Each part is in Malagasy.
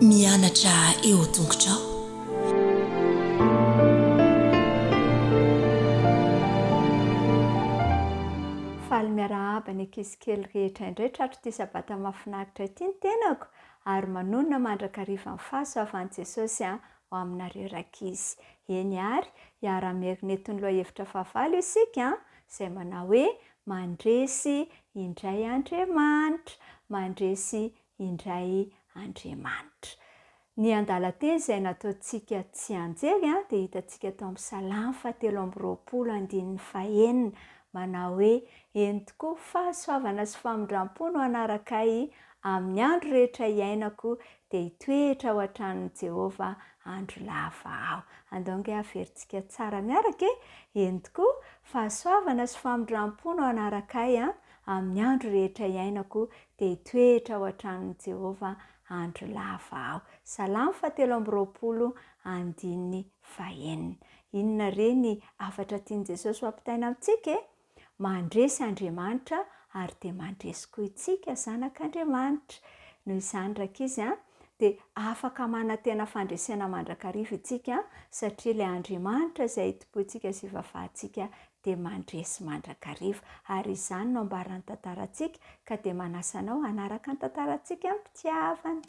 Mianatra eo an-tongotrao. Faly miarahaba ny ankizy kely rehetra indray tratry ity sabata mahafinaritra ity ny tenako ary manonona mandrakariva ny fahasoavan'i Jesosy an! ho aminareo rankizy. Eny ary, hiara-mierineto ny lohahevitra fahavalo isika, izay manao hoe, Mandresy indray Andriamanitra, mandresy indray Andriamanitra. Ny andalan-teny izay nataontsika tsianjery dia hitantsika tao amin'ny Salamo fahatelo amby roapolo andininy fahenina, manao hoe, Eny tokoa, fahasoavana sy famindram-po no hanaraka ahy, Amin'ny andro rehetra iainako, dia hitoetra ao an-tranon'i Jehovah andro lava aho. Andao ange haverintsika tsara miaraka e! Eny tokoa, fahasoavana sy famindram-po no hanaraka ahy an! Amin'ny andro rehetra iainako, dia hitoetra ao an-tranon'i Jehovah andro lava aho. Salamo fahatelo amby roapolo, andininy fahenina. Inona re ny hafatra tian'i Jesosy ho ampitaina amintsika e? Mandresy Andriamanitra ary dia mandresy koa itsika zanak' Andriamanitra. Noho izany rankizy a, dia afaka manantena fandresena mandrakariva itsika satria ilay Andriamanitra izay itompointsika sy ivavantsika dia mandresy mandrakariva. Ary izany no ambaran'ny tantarantsika ka dia manasa anao hanaraka ny tantarantsika am-pitiavana.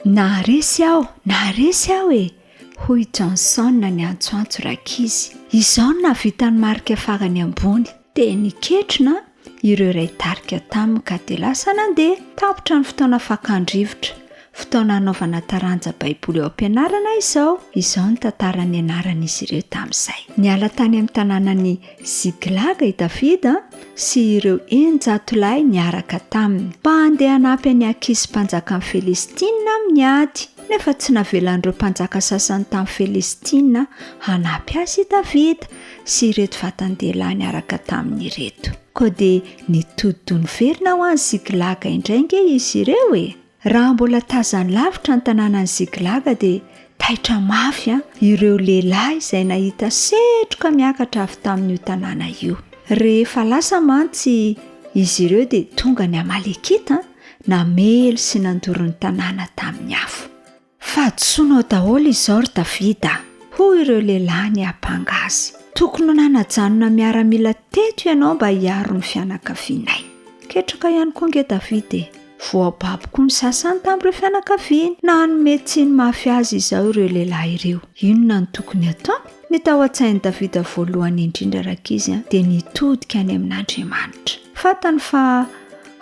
Naharesy aho, naharesy aho e! hoy Johnson niantsoantso rankizy. Izao no nahavitan'ny marika farany ambony. Teny ketrona ireo iray tarika taminy ka dia lasa nandeha. Tapitra ny fotoana fakan-drivotra, fotoana hanaovana taranja Baiboly ao am-pianarana izao. Izao ny tantaran'ny anaran'izy ireo tamin'izay. Niala tany amin'ny tanànan'i Ziklaga i Davida sy ireo eninjato lahy niaraka taminy, mba handeha hanampy an'i Akisy mpanjakan'ny Felistina amin'ny ady. Nefa tsy navelan'ireo mpanjaka sasany tamin'ny Felistina hanampy azy i Davida, sy ireto vatan-dehilahy niaraka taminy ireto. Koa dia nitodi-doha niverina ho any Ziklaga indray ange izy ireo e! Raha mbola tazany lavitra ny tanànan'i Ziklaga dia taitra mafy an, ireo lehilahy izay nahita setroka miakatra avy tamin'io tanàna io. Rehefa lasa mantsy izy ireo dia tonga ny Amalekita, namely sy nandoro ny tanàna tamin'ny afo. Fahadisoanao daholo izao ry David a! hoy ireo lehilahy niampanga azy. Tokony ho nanajanona miaramila teto ianao mba hiaro ny fianakavianay. Ketraka ihany koa ange David e! Voababo koa ny sasany tamin'ireo fianakaviany na hanome tsiny mafy azy izao ireo lehilahy ireo. Inona no tokony hataony? Ny tao an-tsain'i David voalohany indrindra rankizy a, dia ny hitodika any amin'Andriamanitra. Fantany fa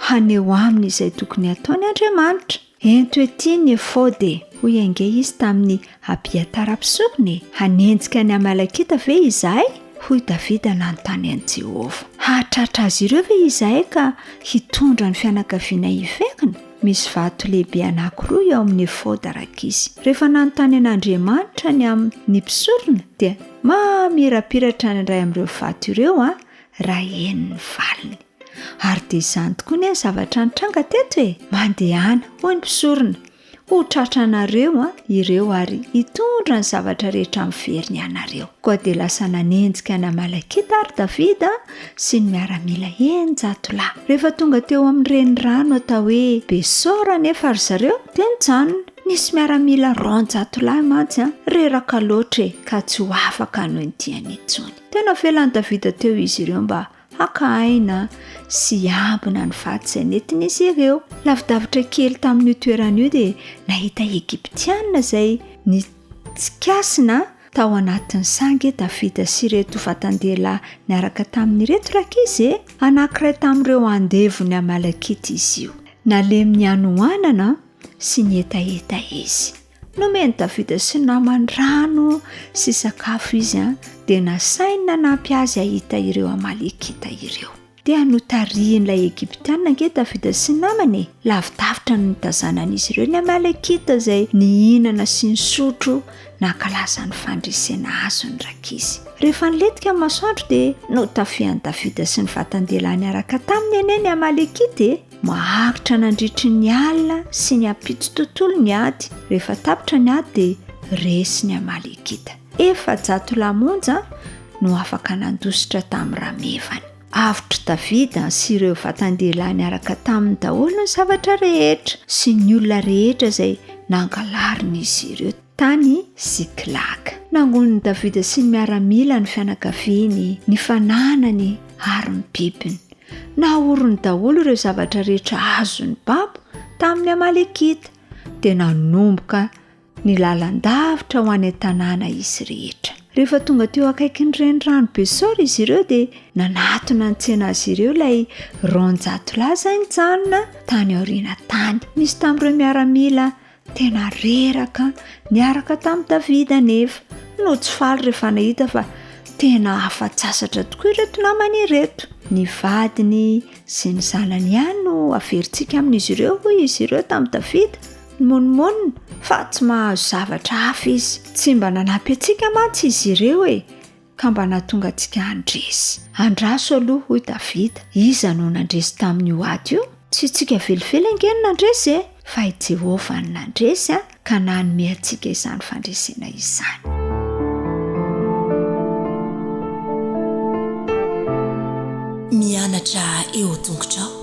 haneho aminy izay tokony hataony Andriamanitra. Ento ety ny efôdy e! hoy ange izy tamin'i Abiatara mpisoronya e! Hanenjika ny Amalekita ve izahay? hoy Davida nanontany an'i Jehovah. Hahatratra azy ireo ve izahay ka hitondra ny fianakavianay hiverina? Misy vato lehibe anankiroa eo amin'ny efôdy arak'izy. Rehefa nanontany an'Andriamanitra ny amin'ny mpisorona, dia mamirapiratra ny iray amin'ireo vato ireo, raha eny ny valiny. Ary dia izany tokoa ny zavatra nitranga teto e! Mandehana, hoy ny mpisorona, ho tratra anareo an, ireo ary hitondra ny zavatra rehetra miverina ianareo. Koa dia lasa nanenjika an'Amalekita ary Davida sy ny miaramila eninjato lahy. Rehefa tonga teo amin'ny renirano atao hoe Besora anefa ry zareo dia nijanona. Nisy miaramila roanjato lahy mantsy reraka loatra e, ka tsy ho afaka hanohy ny diany intsony. Teo navelan'i Davida teo izy ireo mba Haka aina sy hiambina ny vato izay nentin'izy ireo. Lavidavitra kely tamin'io toerana io dia nahita Egyptiana izay nitsikasina tao anatin'ny sangy Davida sy ireto vatan-dehilahy niaraka taminy ireto rankizy e! Anankiray tamin'ireo andevon'ny Amalekita izy io. Nalemy ny hanoanana sy ny hetaheta izy. Nomen'i Davida sy ny namany rano sy sakafo izy, an, dia nasainy nanampy azy hahita ireo Amalekita ireo. Dia notarihin'ilay Egyptiana ange Davida sy ny namany e! Lavidavitra no nitazanan'izy ireo ny Amalekita izay nihinana sy nisotro nankalaza ny fandresena azy ny rankizy. Rehefa nilentika ny masoandro dia notafihan'i Davida sy ny vatan-dehilahy niaraka taminy anie ny Amalekita e! Maharitra nandritry ny alina sy ny ampitso tontolo ny ady, rehefa tapitra ny ady dia resy ny Amalekita. Efajato lahy monja no afaka nandositra tamin'ny ramevany. Avotr'i Davida sy ireo vatan-dehilahy niaraka taminy daholo ny zavatra rehetra sy ny olona rehetra izay nangalarin'izy ireo. tany Ziklag. Nangonin'i Davida sy ny miaramila ny fianakaviany, ny fananany ary ny bibiny. Nahorony daholo ireo zavatra rehetra azony babo tamin'ny Amalekita, dia nanomboka ny lalan-davitra ho any an-tanàna izy rehetra. Rehefa tonga teo akaikin'ny renirano Besor izy ireo dia nanatona an-tsena azy ireo ilay roanjato lahy izay nijanona tany aoriana tany. Nisy tamin'ireo miaramila Tena reraka niaraka tamin'i Davida anefa no tsy faly rehefa nahita fa tena afa-tsasatra tokoa ireto namany ireto. Ny vadiny sy ny zanany ihany no averintsika amin'izy ireo, hoy izy ireo tamin'i Davida. Nimonomonona fa tsy mahazo zavatra hafa izy. Tsy mba nanampy antsika mantsy izy ireo e! ka mba nahatonga antsika handresy. Andraso aloha, hoy Davida, iza no nandresy tamin'io ady io? Tsy isika velively ange no nandresy e! Fa i Jehovah no nandresy, ka nanome antsika izany fandresena izany. Mianatra eo an-tongotrao.